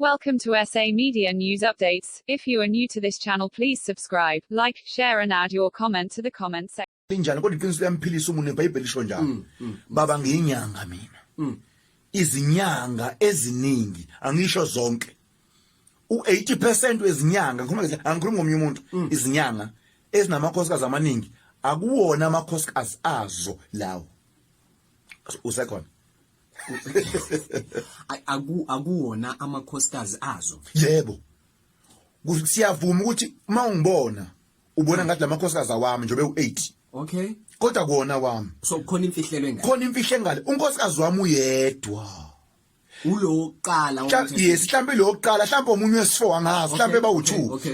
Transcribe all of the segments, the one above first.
Welcome to SA Media News Updates. If you are new to this channel, please subscribe, like, share and add your comment to the comment section. Linjani kodwa iqiniso liyamphilisa umuntu iBhayibheli lisho njalo. Mm, mm. Baba ngiyinyanga mina. Mm. Izinyanga eziningi angisho zonke. U80% wezinyanga ngikhuluma ngithi angikhulumi ngomunye umuntu izinyanga ezinamakhosikazi amaningi akuwona amakhosikazi azo lawo. Usekhona. aku akuwona amakhosikazi azo yebo siyavuma ukuthi uma ungibona ubona ngathi lamakhosikazi awami njobe u8 okay kodwa kuona wami so khona imfihlelo engale khona imfihle engale unkosikazi wami uyedwa uloqala yes mhlambe loqala mhlambe omunye wesifo angazi mhlambe ba u2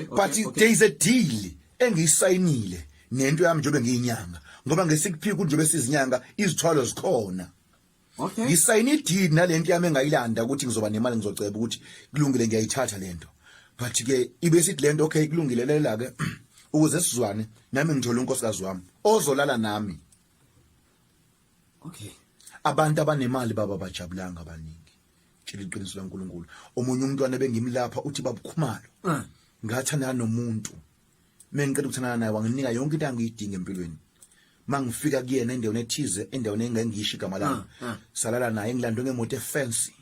but there is a deal engisayinile nento yami njobe ngiyinyanga ngoba ngesikuphika njobe sizinyanga izithwalo zikhona Okay. Ngisayina i-deed nalento yami engayilanda ukuthi ngizoba nemali ngizoceba ukuthi kulungile ngiyayithatha lento. But ke ibe sithi lento okay kulungile lela ke ukuze sizwane nami ngithola unkosikazi wami ozolala nami. Okay. Abantu abanemali baba bajabulanga abaningi. Tshela iqiniso laNkulunkulu. Omunye umntwana bengimlapha uthi babukhumalo. Mm. Ngathanda nomuntu. mina ngiqeda ukuthandana naye wanginika yonke into angiyidinga empilweni mangifika kuyena endaweni ethize endaweni engengisho igama lami ah, ah. salala naye ngilandwe ngemoto efancy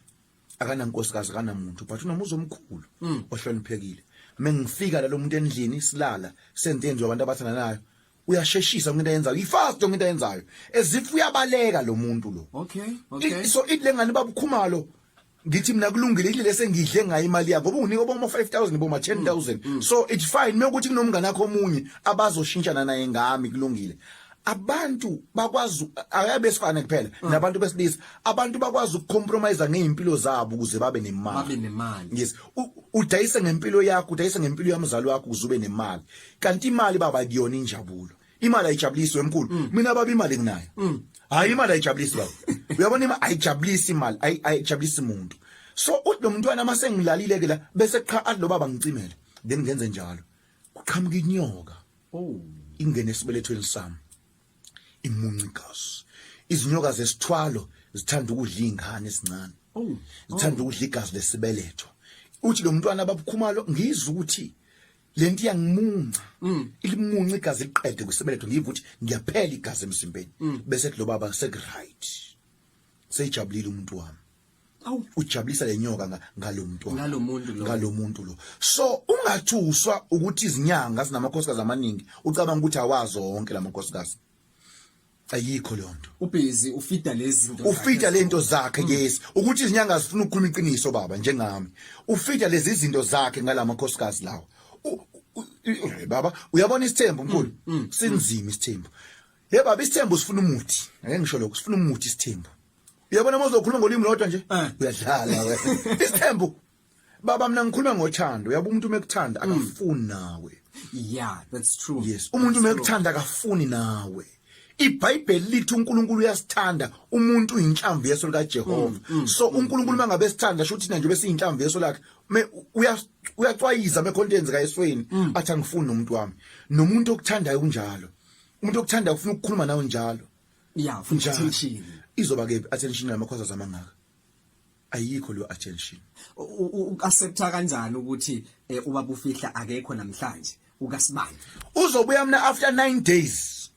akanankosikazi akanamuntu but unomuzi omkhulu hmm. ohloniphekile mengifika lalo muntu endlini silala senzenziwa abantu abathandanayo uyasheshisa ngento ayenzayo ifast ngento ayenzayo ezifu uyabaleka lo muntu lo okay okay so it lengane babukhumalo ngithi mina kulungile ile sengidle ngayo imali yakho ngoba unginika boma 5000 boma 10000 mm, mm. so it's fine mekuthi kunomngane wakho omunye abazoshintshana naye ngami kulungile abantu bakwazi ayabesifana kuphela mm. nabantu besilisa abantu bakwazi ukucompromise ngeimpilo zabo ukuze babe nemali babe nemali yes udayise ngempilo yakho udayise ngempilo yamzali wakho ukuze ube nemali kanti imali baba kuyona injabulo imali ayijabulisi wemkhulu mm. mina baba imali nginayo mm. hayi imali ayijabulisi baba uyabona imali ayijabulisi imali ayijabulisi umuntu so uthi lo mntwana uma sengilalile ke la bese qha athi lo baba ngicimele then ngenze njalo kuqhamuka inyoka oh ingene esibelethweni sami imunci igazi izinyoka zesithwalo zithanda ukudla izingane ezincane oh. zithanda ukudla igazi lesibeletho uthi lo mntwana babukhumalo ngizwa ukuthi lento iyangimunca mm. ilimunca igazi liqede kusibeletho ngiyiva ukuthi ngiyaphela igazi emzimbeni mm. bese kulo baba sekuright seyijabulile umuntu wami awu ujabulisa lenyoka ngalomuntu ngalomuntu lo ngalomuntu lo so ungathuswa ukuthi izinyanga zinamakhosikazi amaningi ucabanga ukuthi awazi wonke lamakhosikazi ayikho leyo nto ubhizi ufida lezi zinto ufida le nto zakhe mm. yes ukuthi izinyanga azifuna ukukhuluma iqiniso baba njengami ufida lezi zinto zakhe ngalama khosikazi lawa baba uyabona isithembu mkhulu mm, mm, sinzima isithembu ye baba isithembu sifuna umuthi ngeke ngisho lokho sifuna umuthi isithembu uyabona mozokhuluma ngolimi lodwa nje eh. uyadlala wena isithembu baba mina ngikhuluma ngothando uyabo umuntu mekuthanda mm. akafuni nawe yeah that's true yes umuntu mekuthanda akafuni nawe iBhayibheli lithi uNkulunkulu uyasithanda umuntu uyinhlamvu yeso lika Jehova mm, mm, so mm, uNkulunkulu mangabe sithanda sho thina nje bese inhlamvu yeso lakhe uyacwayiza mekhonto yenzeka esweni athi angifuni nomuntu wami nomuntu okuthandayo kunjalo umuntu okuthandayo ufuna ukukhuluma nawe njalo yeah futhi attention izoba ke attention lamakhoza zamangaka ayikho leyo attention uaccepta kanjani ukuthi eh, ubaba ufihla akekho namhlanje ukasibani uzobuya mina after 9 days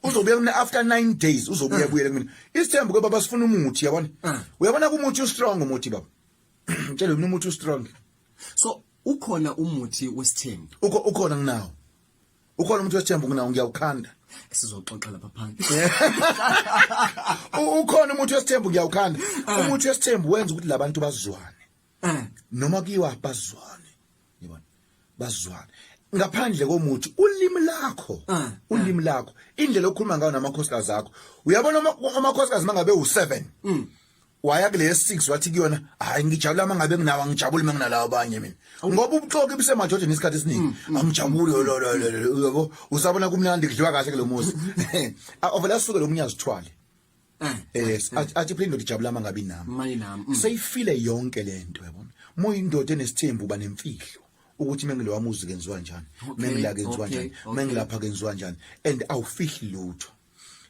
uzobuya mina after 9 days uzobuya ah. buyele mina isithembu ke baba sifuna umuthi yabona ah. uyabona kumuthi ustrong umuthi baba ngitshela mina umuthi ustrong so ukhona umuthi wesithembu ukhona nginawo ukhona umuntu wesithembu kunawo ngiyawukhanda sizoxoxa lapha phansi ukhona umuntu wesithembu ngiyawukhanda eh. umuntu wesithembu wenza ukuthi labantu bazwane eh. noma kuyiwa bazwane yibona bazwane ngaphandle komuthi ulimi lakho eh. ulimi lakho indlela okhuluma ngayo namakhosikazi akho uyabona amakhosikazi mangabe u7 mm. waya kule ye-six wathi kuyona hhayi ngijabula uma ngabe nginawo angijabuli uma nginalawo abanye mina ngoba ubuxoki busemajojeni isikhathi esiningi mm, angijabuli mm, mm. yabo usabona kumnandi kudliwa kahle kulo muzi ovele asuke lo munye azithwale eh, eh, yes eh. athi phela indoda ijabula uma ngabe inami seyifile yonke le nto yabona muyindoda enesithembu uba nemfihlo ukuthi mengilowa muzi kenziwa njani mengila kenziwa njani mengilapha kenziwa njani and awufihli lutho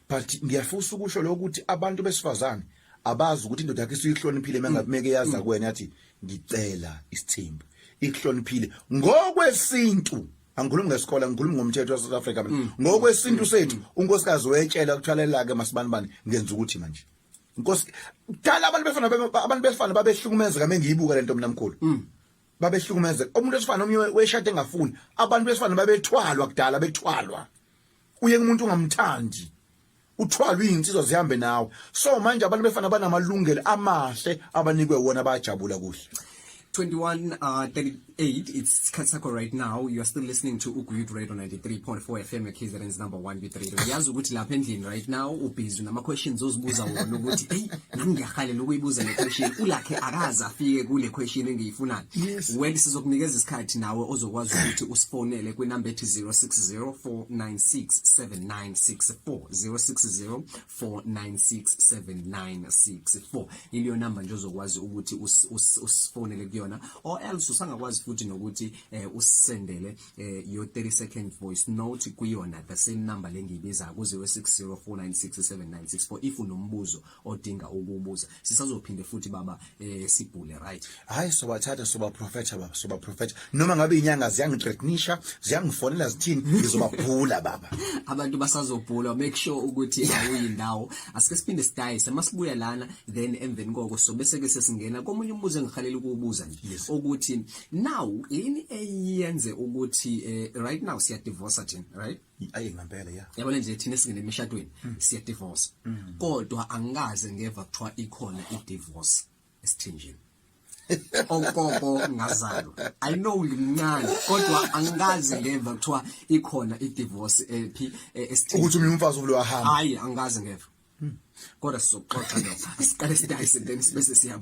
but ngiyafusa ukusho lokho ukuthi abantu besifazane abazi ukuthi indoda yakhe isiyihloniphile mengabimeke yaza mm. kuwena yathi ngicela isithembu ikuhloniphile ngokwesintu angikhulumi ngesikole angikhulumi ngomthetho waseSouth Africa mina mm. ngokwesintu mm. sethu unkosikazi wetshela ukuthwalela ke masibanibani ngenza ukuthi manje inkosi dala abantu befana abantu befana babehlukumezeka mengiyibuka lento mina mkhulu babehlukumezeka umuntu wesifana omnye weshade engafuni abantu besifana babethwalwa kudala bethwalwa uyeke umuntu ungamthandi uthwalwe izinsizwa zihambe nawe so manje abantu befana banamalungelo amahle abanikwe wona bayajabula kuhle 21 uh, 38 it's isikhathi sakho right now you are still listening to uguyut radio 93.4 fm ekzns number 1 bit radio yazi ukuthi lapha endlini right now ubhizi nama-questions ozibuza wona ukuthi eyi nami ngiyahalela ukuyibuza le question ulakhe akaze afike kule question engiyifunayo Yes. Wendy sizokunikeza isikhathi nawe ozokwazi ukuthi usifonele kwinamba ethi 0604967964 0604967964 iliyo namba nje ozokwazi ukuthi usifonele kuyona or else usangakwazi futhi nokuthi eh, usisendele eh, your 30 second voice note kuyona the same number lengibiza ku 0604967964 if unombuzo odinga ukubuza sisazophinde futhi baba eh sibhule right hayi sobathatha soba prophetha baba soba prophetha noma ngabe inyanga ziyangithreatenisha ziyangifonela zithini ngizobabhula baba abantu basazobhula make sure ukuthi awuyindawo asike siphinde sidayise masibuya lana then emveni koko so bese ke sesingena komunye umbuzo engihalela ukubuza nje yes. ukuthi now yini eyenze ukuthi eh, right now siya divorce thina right ayi ngempela ya yabona nje thina singene emishadweni mm. siya divorce mm. kodwa angikaze ngeva kuthiwa ikhona i divorce esithenjini ogogo ngazalwa i know ngimncane kodwa angikaze ngeva kuthiwa ikhona i divorce ephi eh, eh, esithenjini ukuthi umuntu umfazi uvule wahamba hayi angikaze ngeva hmm. kodwa sizoxoxa lokho asiqale sidayise then sibe sesiyabu